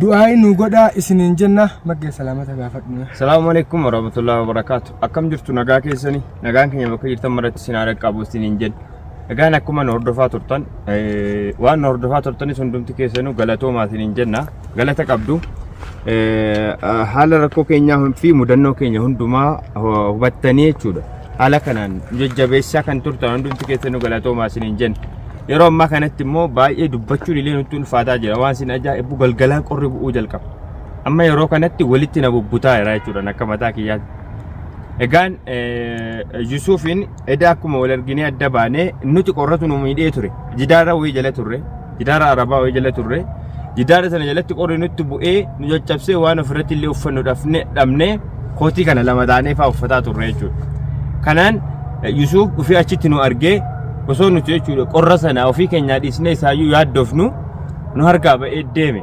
du'aayi nuu godhaa isiniin jenna maggee salaamata gaafadhu. Salaamu alaikum warahmatullahi wabarakatuh. Akkam jirtu nagaa keessani nagaan keenya bakka jirtan maratti isin haadha qabu isiniin jenna. Egaan akkuma nu hordofaa turtan eh, waan nu hordofaa turtanis hundumti keessanuu galatoomaa isiniin jenna galata qabdu. Eh, ah, Haala rakkoo keenyaa hun- fi mudannoo keenya hundumaa hu- hubattanii jechuudha. Haala kanaan nu jajjabeessaa kan turtan hundumti keessanuu galatoomaa isiniin jenna. Yeroo ammaa kanatti immoo baay'ee dubbachuun illee nutti ulfaataa jira. Waan isin ajaa'ibbu galgalaan qorri bu'uu jalqaba. Amma yeroo kanatti walitti na bubbutaa jira jechuudhaan akka mataa kiyyaatti. Egaan Yusuufiin edaa akkuma wal arginee adda baanee nuti qorratu nu miidhee ture. Jidaara wayii jala turre. Jidaara arabaa wayii jala turre. Jidaara sana jalatti qorri nutti bu'ee nu caccabsee waan ofirratti illee uffannu dhafne dhabnee kootii kana lama taanee fa'aa uffataa turre jechuudha. Kanaan eh, Yusuuf dhufee achitti nu argee osoo nuti jechuudha qorra sana ofii keenyaa dhiisnee isaayyuu yaaddofnu nu harkaa ba'ee deeme.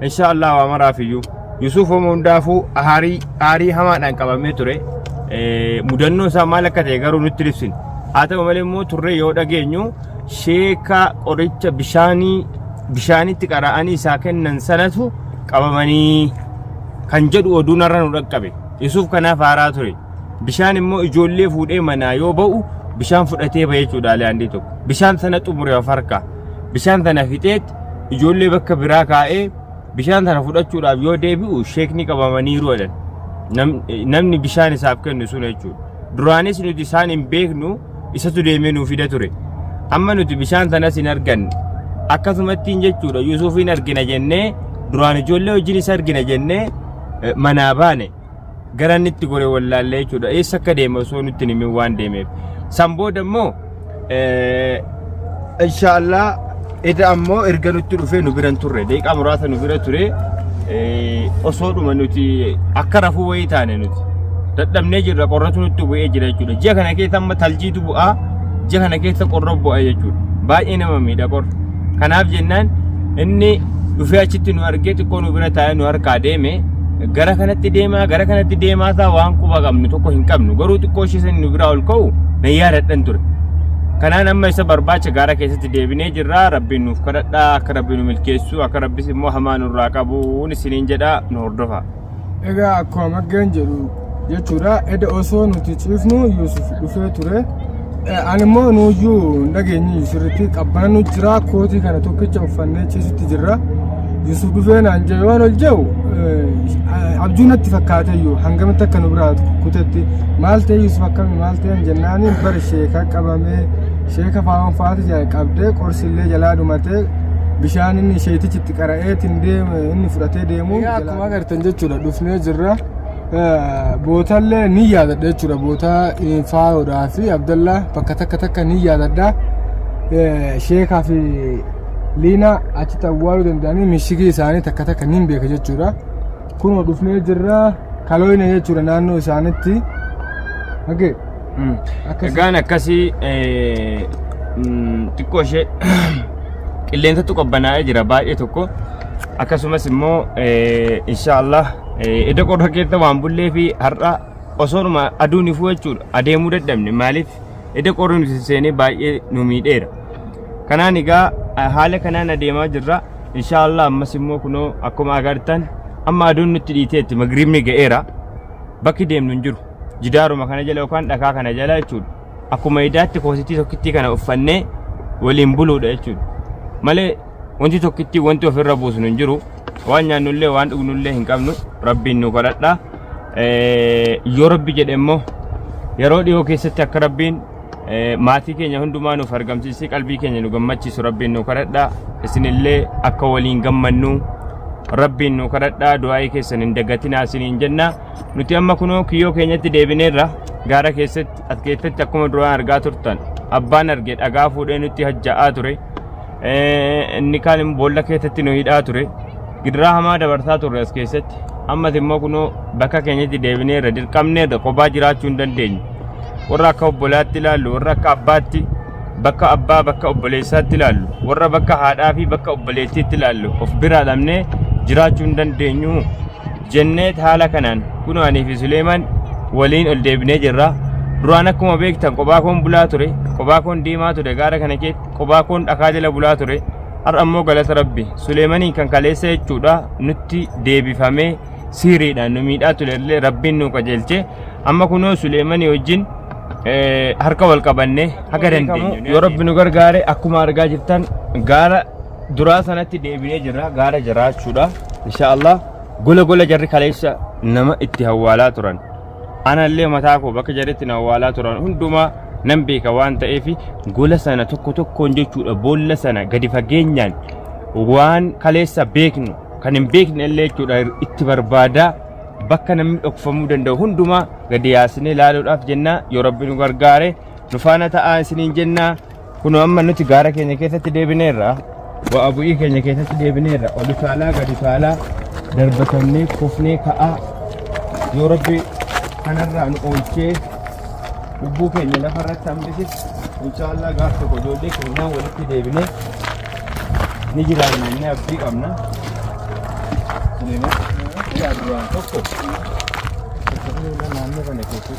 Inshaa Allah waa maraaf iyyuu. Yusuuf homo hundaafuu aarii aarii hamaadhaan qabamee ture. Eh, Mudannoo isaa maal akka ta'e garuu nutti ibsine. Haa ta'u malee immoo turree yoo dhageenyu sheeka qoricha bishaanii bishaanitti qara'anii isaa kennan sanatu qabamanii kan jedhu oduun har'a nu dhaqqabe. Yesuuf kanaaf haaraa ture. Bishaan immoo ijoollee fuudhee manaa yoo ba'u bishaan fudhatee ba'e jechuudha alaandii tokko. Bishaan sana xumure of harkaa. Bishaan sana fixeet ijoollee bakka biraa kaa'ee bishaan sana fudhachuudhaaf yoo deebi'u sheekni qabamaniiru jedhan. Nam- Namni bishaan isaaf kennu sun jechuudha. Duraanis nuti isaan hin beeknu isatu deemee nuu fida ture. Amma nuti bishaan sanas hin arganne. Akkasumattiin jechuudha Yuusufiin argina jennee duraan ijoollee wajjin isa argina jennee eh, manaa baane. Gara inni itti gore wallaallee jechuudha. Eessa akka deeme osoo nutti hin himin waan deemeef. San booda immoo eh, inshaallah Eda ammoo erga nutti dhufee nu biran turre deeqaa muraasa nu bira ture osoo dhuma nuti akka rafuu wayii taane nuti dadhabnee jirra qorratu nutti bu'ee jira jechuudha ji'a kana keessa amma taljiitu bu'aa ji'a kana keessa qorra bu'aa jechuudha baay'ee nama miidha qorra kanaaf jennaan inni dhufee achitti nu argee xiqqoo nu bira taa'ee nu harkaa deeme gara kanatti deemaa gara kanatti deemaa isaa waan quba qabnu tokko hin qabnu garuu xiqqoo ishee sani nu biraa ol ka'u na yaadadhan ture kanaan amma isa barbaacha gaara keessatti deebinee jirra rabbiin nuuf kadhadha akka rabbiin nu milkeessu akka rabbis immoo hamaa nurraa qabu isiniin jedha nu hordofa. Egaa akkuma maggeen jedhu jechuudha edda osoo nuti ciifnu Yuusuf dhufee ture. Eh, Ani immoo nuyyuu hin dhageenye sirriitti qabbana nu jira kootii kana tokkicha uffannee ciisutti jirra. Yuusuf dhufee naan jee waan ol jehu eh, abjuu natti fakkaateyyuu hangamitti akka nu biraa kutetti maal ta'e Yuusuf akkami maal ta'e jennaaniin bara sheekaa qabamee Sheeka faa'oon faati qabdee qorsi illee jalaa dhumatee bishaan inni isheetichi itti qara'ee ittiin deemu inni fudhatee deemu. Egaa akkuma agartan jechuudha dhufnee jirra. Bootallee ni yaadadha jechuudha boota faayoodhaa fi abdallaa bakka takka takka ni yaadadha. Sheekaa fi liinaa achitti awwaaluu danda'anii mishigii isaanii takka takka ni beeka jechuudha. Kunoo dhufnee jirra kalooyina jechuudha naannoo isaanitti. Hagee. Mm. Akkasii. Egaan akkasii eh, mm, xiqqoo ishee qilleensatu qabbanaa'ee jira baay'ee tokko akkasumas immoo eh, inshaallah eh, edda qorra keessa waan bullee fi har'a osoodhuma aduun ifuu jechuudha adeemuu dadhabne maaliif Eda qorri nuti seenee baay'ee nu miidheera. Kanaan egaa eh, haala kanaan adeemaa jirra. Inshaallah ammas immoo kunoo akkuma agartan amma aduun nutti dhiiteetti magriibni ga'eera. Bakki deemnu hin jiru. Jidaaruma kana jala yookaan dhakaa kana jala jechuudha. Akkuma idaatti koositii tokkittii kana uffannee waliin buluudha jechuudha. Malee Wanti tokkitti wanti ofirra buusnu hin jiru. Waan nyaannullee waan dhugnullee hin qabnu. Rabbiin nu kadhadha. Eh, Yoo rabbi jedhe immoo yeroo dhiyoo keessatti akka rabbiin eh, maatii keenya hundumaa nuuf argamsiisee qalbii keenya nu gammachiisu rabbiin nu kadhadha. Isinillee akka waliin gammannu rabbiin nu kadhadha. Du'aa'ii keessan hin dagatinaa isiniin jenna. Nuti amma kunoo kiyyoo keenyatti deebineerra. Gaara keessatti as keessatti akkuma duraan argaa turtan abbaan arge dhagaa fuudhee nutti hajja'aa ture. Eh, inni kaan immoo boolla keessatti nu hidhaa ture gidiraa hamaa dabarsaa turre as keessatti ammas immoo kunoo bakka keenyatti deebinee irra dirqamnee irra kophaa jiraachuu hin dandeenyu warra akka obbolaatti ilaallu warra akka abbaatti bakka abbaa bakka obboleessaatti ilaallu warra bakka haadhaa fi bakka obboleettiitti ilaallu of biraa dhabnee jiraachuu hin dandeenyu jennee haala kanaan kunoo anii fi Suleemaan waliin ol deebinee jirra duraan akkuma beektan kophaa koon bulaa ture kophaa koon deemaa ture gaara kana keessa qubaakoon dhakaa jala bulaa ture har'a immoo galata rabbi suleemaniin kan kaleessa jechuudha nutti deebifamee siiriidhaan nu miidhaa ture illee rabbiin nu qajeelche amma kunoo suleemanii wajjin eh, harka wal qabannee haga dandeenyu yoo rabbi nu gargaare akkuma argaa jirtan gaara duraa sanatti deebinee jirra gaara jiraachuudha inshaallah gola gola jarri kaleessa nama itti hawwaalaa turan Anallee mataa koo bakka jedhetti na awwaalaa turan hundumaa nan beeka waan ta'eef gola sana tokko tokkoon jechuudha boolla sana gadi fageenyaan waan kaleessa beeknu kan hin beekne illee jechuudha itti barbaadaa bakka namni dhokfamuu danda'u hundumaa gadi yaasnee ilaaluudhaaf jennaa yoo rabbi nu gargaare nu faana ta'aa isiniin jennaa Kunoo amma nuti gaara keenya keessatti deebineerra. Bu'aa bu'ii keenya keessatti deebineerra. Ol utaalaa gad utaalaa darbatamnee kufnee ka'aa yoo rabbi kanarraa nu oolchee lubbuu keenya lafarratti hambisis inshaallah gaaf tokko ijoollee keenyaan walitti deebinee ni jiraanna inni abdii qabna. Suleeman, yaa duraan tokko. Tokko naannoo kana keessatti.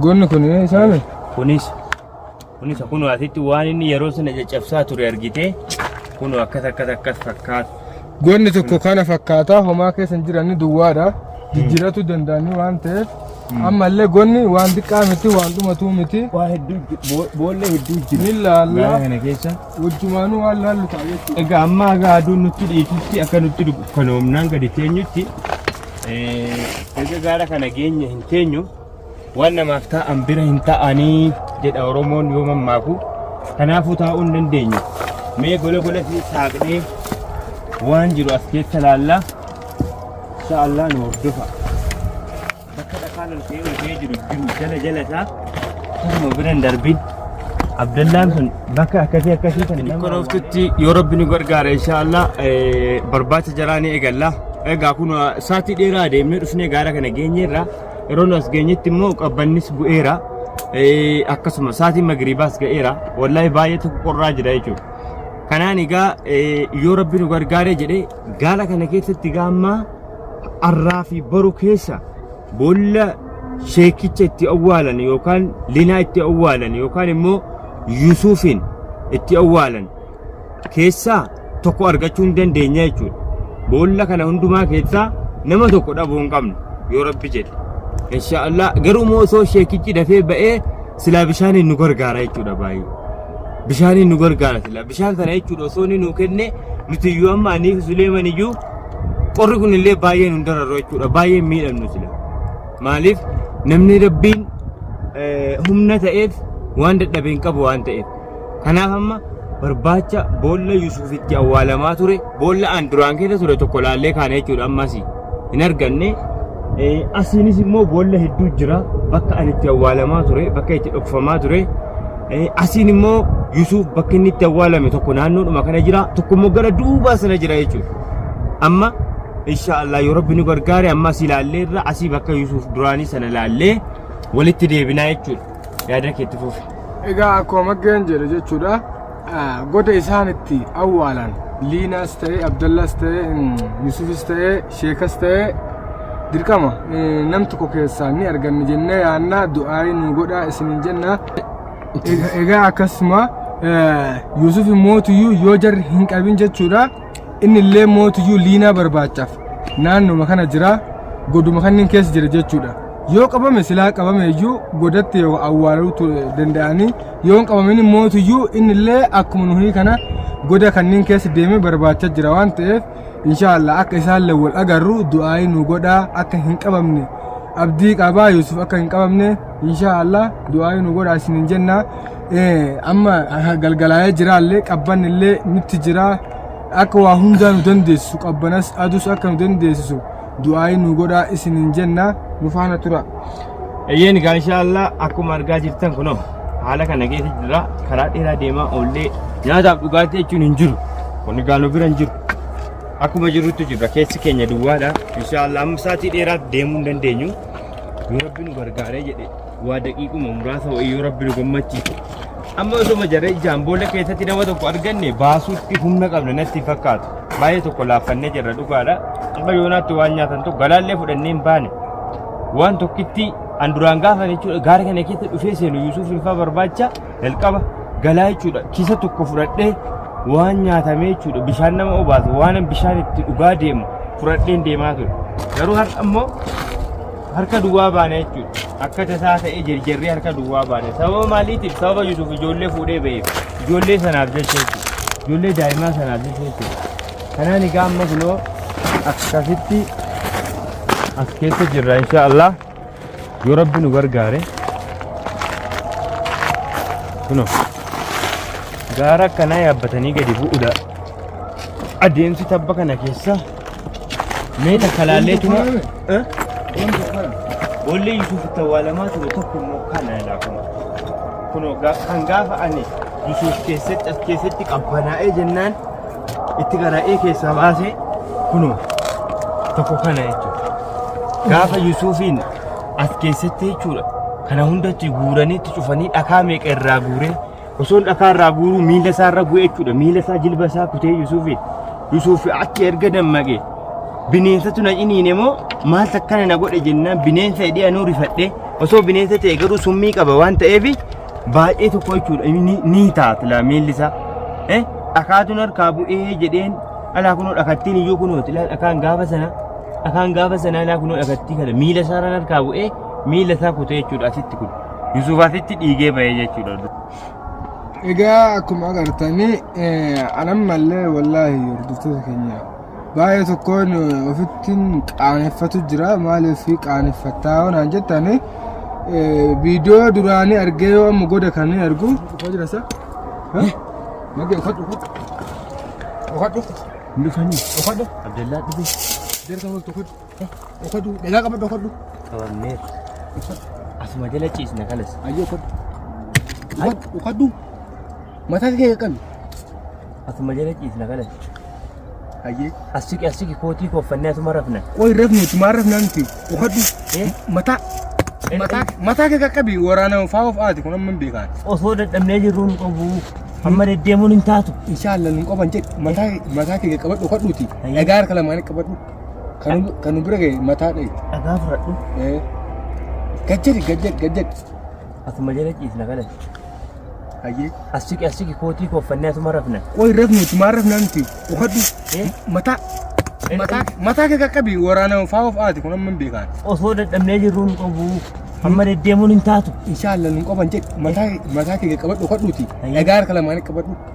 Goonni kun isaami? Kunis kunis kun asitti waan inni yeroo sana caccabsaa ture argitee kun akkas akkas akkas fakkaata. Goonni tokko kana fakkaata homaa keessa hin jiran duwwaadha. Jijjiiratu danda'anii waan ta'eef ammallee goonni waan xiqqaa miti waan dhumatuu miti. Waa hedduu boollee hedduu jira. Ni laalla. Gaara kana keessa. Wajjumaanuu waan laallu ta'a jechuudha. Egaa amma egaa aduun nutti dhiitutti akka nutti dukkanoomnaan gadi teenyutti egaa gaara kana geenye hin teenyu. Waan namaaf taa'an bira hin taa'anii jedha Oromoon yoo mammaaku. Kanaafuu taa'uu hin dandeenyu. Mee gola golatti saaqnee waan jiru as keessa laallaa. Insha Allah nu hordofa. Bakka dhakaan ol ka'ee ol ka'ee jiru jiru jala jala isaa akkuma bira hin darbin. Abdallaan sun bakka akkasii akkasii kan nama Konooftutti yoo rabbi nu gargaara insha Allah barbaacha jaraa ni eegalla. Egaa kun saatii dheeraa deemnee dhufnee gaara kana geenyeerra. Yeroo nu as geenyetti immoo qabbannis bu'eera. Eh, Akkasuma saatiin magriibaas ga'eera. Wallaahi baay'ee tokko qorraa jira jechuudha. Kanaan egaa eh, yoo rabbi nu gargaaree jedhee gaala kana keessatti egaa amma arraa fi boru keessa boolla sheekicha itti awwaalan yookaan linaa itti awwaalan yookaan immoo yusuufiin itti awwaalan keessaa tokko argachuu hin dandeenya jechuudha. Boolla kana hundumaa keessaa nama tokko dhabuu hin qabnu yoo rabbi jedhe. Inshaallah garuu immoo osoo sheekichi dafee ba'ee silaa bishaaniin nu gargaara jechuudha baay'ee. Bishaaniin nu gargaara silaa bishaan kana jechuudha osoo inni nuu kenne nuti iyyuu amma anii fi Suleeman iyyuu qorri kun illee baay'ee nu dararra jechuudha baay'ee miidhamnu sila. Maaliif namni rabbiin eh, humna ta'eef waan dadhabe hin qabu waan ta'eef. Kanaaf amma barbaacha boolla Yusuuf itti awwaalamaa ture boolla aan duraan keessa ture tokko laallee kaana jechuudha ammas hin arganne. Asiinis immoo boolla hedduu jira bakka ani itti awwaalamaa ture bakka itti dhokfamaa ture. Asiin immoo Yusuuf bakki inni itti awwaalame tokko naannoodhuma kana jira tokko immoo gara duubaa sana jira jechuudha. Amma insha Allah yoo rabbi nu gargaare amma asii laallee irra asii bakka Yusuuf duraanii sana laallee walitti deebinaa jechuudha. Yaada keetti fufi. Egaa akkuma maggeen jedhe jechuudha goda isaan itti awwaalan liinaas ta'ee abdallaas ta'ee yusufis ta'ee sheekas ta'ee dirqama nam tokko keessaa ni arganna jennee yaannaa du'aayii nu godhaa isiniin jenna egaa akkasuma yusuf mootiyyuu yoo jarri hin qabin jechuudha inni illee mootiyyuu liinaa barbaachaaf naannuma kana jira goduma kanneen keessa jira jechuudha yoo qabame silaa qabame iyyuu godatti yoo awwaaluu tu- danda'anii yoo hin qabamin mootiyyuu inni illee akkuma nuhii kana goda kanneen keessa deemee barbaacha jira waan ta'eef inshaallah akka isaan illee wal agarru du'aayii nu godhaa akka hin qabamne abdii qabaa Yuusuf akka hin qabamne inshaallah du'aayii nu godhaa isinin jennaa amma galgalaa'ee jiraallee qabban illee nutti jira akka waa hundaa nu dandeessisu qabbanas adus akka nu dandeessisu du'aa'ii nu godhaa isin hin jenna nu faana tura. Eeyyeen egaa inshaallah akkuma argaa jirtan kunoo haala kana keessa jira karaa dheeraa deemaa oollee nyaataaf dhugaatii jechuun hin jiru kun egaa nu bira hin jiru akkuma jirutti jirra keessi keenya duwwaadha inshaallah amma sa'aatii dheeraaf deemuu hin dandeenyu yoo rabbi nu gargaaree jedhe waa daqiiquma muraasa wayii yoo rabbi nu gammachiise amma osoma jarree ijaan boolla keessatti nama tokko arganne baasuutti humna qabna natti hin fakkaatu baay'ee tokko laaffannee jirra dhugaadha amma yoonaatti waan nyaatan tokko galaallee fudhannee hin baane waan tokkitti an duraan gaafan jechuudha gaara kana keessa dhufee seenu yuusuuf hinfaa barbaacha jalqaba galaa jechuudha kisa tokko fudhadhee waan nyaatamee jechuudha bishaan nama obaasu waan bishaan itti dhugaa deemu fudhadheen deemaa ture garuu har'a immoo harka duwwaa baana jechuudha. Akka tasaa ta'ee jirjirree harka duwwaa baana. Sababa maaliitiif? Sababa Yuusuf ijoollee fuudhee ba'eef. Ijoollee sanaaf jecha jechuudha. Ijoollee daa'imaa sanaaf jecha jechuudha. Kanaan egaa amma kunoo akkasitti as keessa jirra insha Allah. Yoo rabbi nu gargaare. Kunoo gaara akkanaa yaabbatanii gadi bu'uudha. Adeemsi tabba kana keessa Mee takka laallee tuma. Boollee Yusuuf itti awwaalamaa ture tokko immoo kana ilaa kun. Kunoo ga- kan gaafa ani Yusuuf keessatti as keessatti qabbanaa'ee jennaan itti garaa'ee keessaa baasee kunoo tokko kana jechuudha. Gaafa Yusuufiin as keessatti jechuudha. Kana hundatti guuranii itti cufanii dhakaa meeqa irraa guuree osoon dhakaa irraa guuruu miila isaa irra bu'e jechuudha. Miila isaa jilba isaa kutee Yusuufiin. Yusuuf achi erga dammaqe bineensatu na ciniine moo maal takkana na godhe jennaan bineensa hidhee anuu rifadhe osoo bineensa ta'e garuu summii qaba waan ta'eef baay'ee tokko jechuudha inni ni taata laa miilli isaa. Eh dhakaatuun harkaa bu'ee jedheen alaa kunoo dhakattiin iyyuu kunoo dhakaan gaafa sana dhakaan gaafa sana alaa kunoo dhakattii kana miila isaa irraan harkaa bu'ee miila isaa kutee jechuudha asitti kun Yusuuf asitti dhiigee bahee jechuudha. Egaa akkuma agartanii anammallee wallaahi hordoftoota keenya baay'ee tokkoon ofittiin qaaneffatu jira maaliif qaaneffattaa waan jettanii viidiyoo duraanii argee yoo amma goda kan hin argu dhufaa jira sa magee uffadhu uffadhu uffadhu Abdallaa dhufee. jarka multu uffadhu Dhokadhu. Dhagaa qabadhu dhokadhu. Qabamnee. Asuma jala ciisna kanas. Ayyoo dhokadhu. Dhokadhu. Dhokadhu. Mataa kee qaqqabi. Asuma jala ciisna kanas. Ayyee. Asiki asiki kootii kooffannee asuma rafna. Qoy rafne tumaa rafnaa miti. Dhokadhu. Eh? Mataa. Eh, Mataa eh. mataa kee qaqqabi waraana faa of aati kun amma hin beekaan. Osoo dadhabnee jirru nu qabu. Amma deddeemuun hin taatu. Inshallah nun qaban jedhe mataa mataa kee qabadhu dhokadhuuti. Ayyee. Dhagaa harka lamaan qabadhu. Kan nu- kan nu bira ga'e mataa dhayite. Dhagaa fudhadhu. Eh. Gad jedhi gad jedhi gad jedhi. Asuma jala ciisna kana. Hayyee. As siqi as siqi kootii koo uffannee asuma rafna. Qoy rafnu tumaa rafnaa miti. Uffadhu. Eh? Mataa. Eh, Mataa eh. mataa kee qaqqabi waraana faa of aati kun amma hin beekaan. Osoo dadhabnee jirruu nu qabu. Amma deddeemuun hin taatu. Inshaallah nun qaban jedhi. Mataa mataa kee qaqqabadhu uffadhuuti. Hayyee. Dhagaa harka lamaan qaqqabadhu.